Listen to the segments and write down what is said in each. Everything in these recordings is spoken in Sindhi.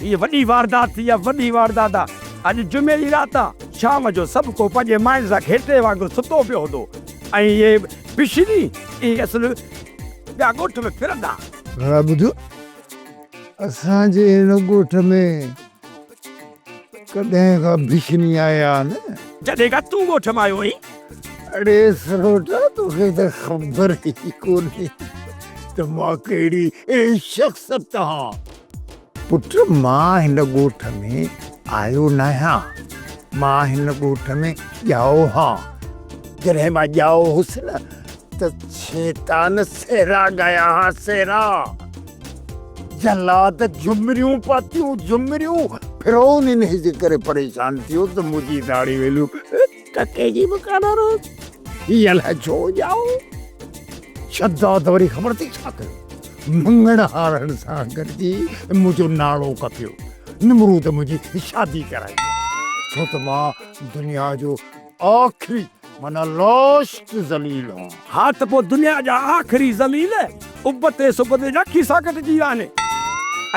هيء وڏي واردات ٿي آ، وڏي واردات آ. اڄ جمعي جي رات آ. شام جو سڀ ڪو پنهنجي ماين سان گهيٽي وانگر ستو پيو هوندو ۽ هيء بشري ۽ اصل ٻيا ڳوٺ ۾ ڦرندا. ڀلا ٻڌ، اسان جي هن ڳوٺ ۾ ڪڏهن ڪا بشري آيا آهن؟ جڏهن کان تون ڳوٺ مان آيو آهين. اڙي سروٽا، توکي ته خبر ئي ڪونهي ته مان ڪهڙي شخصيت آهان. پٽ مان هن ڳوٺ ۾ آيو ناهيان، مان هن ڳوٺ ۾ ڄائو هان. جڏهن مان ڄائو هوس نه ته شيطان سهرا ڳايا ها سهرا. جلاد جهمريون پاتيون جهمريون. فرعون انهيء جي ڪري پريشان ٿيو ته منهنجي داڙهي ويليو. ڪڪي جي به ڪانه روز هي الائي ڇو ڄائو شداد وري خبر تي ڇا ڪيو مڱڻ هارڻ سان گڏجي منهنجو نالو ڪپيو نمرود منهنجي شادي ڪرائي ڇو ته مان دنيا جو آخري معنی لاسٽ ذليل هان ها ته پوء دنيا جا آخري ذليل ابتي سبتي جا کيسا ڪٽجي ويا آهن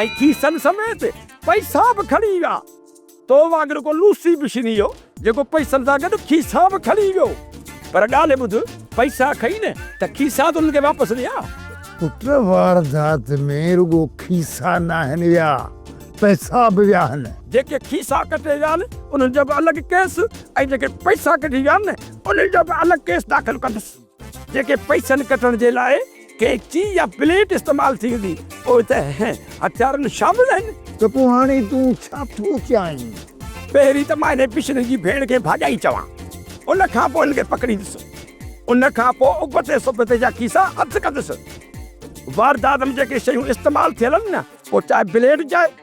۽ کيسن سميت پئسا به کڻي ويا. تو وانگر ڪو لوسي به شني هو، جيڪو پئسن سان گڏ کيسا به کڻي ويو. پر ڳالهه ٻڌ، پئسا کئي نه، ته کيسا تون هن کي واپس ڏيان. پٽ، واردات ۾ رڳو کيسا ناهن ويا، پئسا به ويا آهن. جيڪي کيسا ڪٽي ويا آهن، انهن جو به الڳ ڪيس ۽ جيڪي پئسا ڪڍي ويا آهن، انهن جو به الڳ ڪيس داخل ڪندس. جيڪي پئسن ڪٽڻ جي لاء قيچي يا بليڊ استعمال ٿيندي اهي ته اهن هٿيارن شامل آهن. ته پوء هاڻي تون ڇا ٿو چاهين؟ پهرين ته مان انهي پشني جي ڀيڻ کي ڀاڄائي چوان. ان کان پوء هن کي پڪڙيندس. ان کان پوء ابتي سبتي جا کيسا اڌ ڪندس. واردات ۾ جيڪي شيون استعمال ٿيل آهن نه پوء چاهي بليڊ چاهي.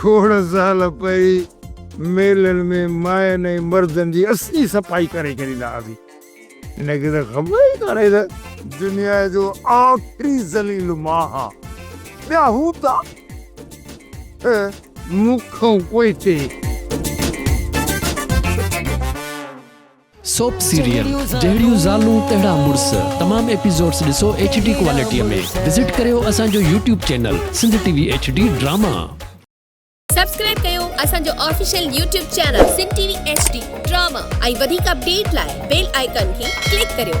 کوڙ سال پهرين ميلن ۾ ماين ۽ مردن جي اسين صفائي ڪري ڇڏيندا هئاسين. هن کي ته خبر ئي ڪانهي ته دنيا جو آخري ذليل مان ها. ٻيا هوندا ته مون کان پوئتي. سوپ سيريل، جهڙيون زالون تهڙا مڙس، تمام ايپيسوڊز ڏسو ايڇ ڊي ڪوالٽيء ۾، وزٽ ڪريو اسان جو YouTube channel Sindh T V H D drama. Subscribe ڪيو اسان جو official YouTube channel Sindh T V H D drama ۽ وڌيڪ اپڊيٽ لاء بيل آئيڪان کي ڪلڪ ڪريو.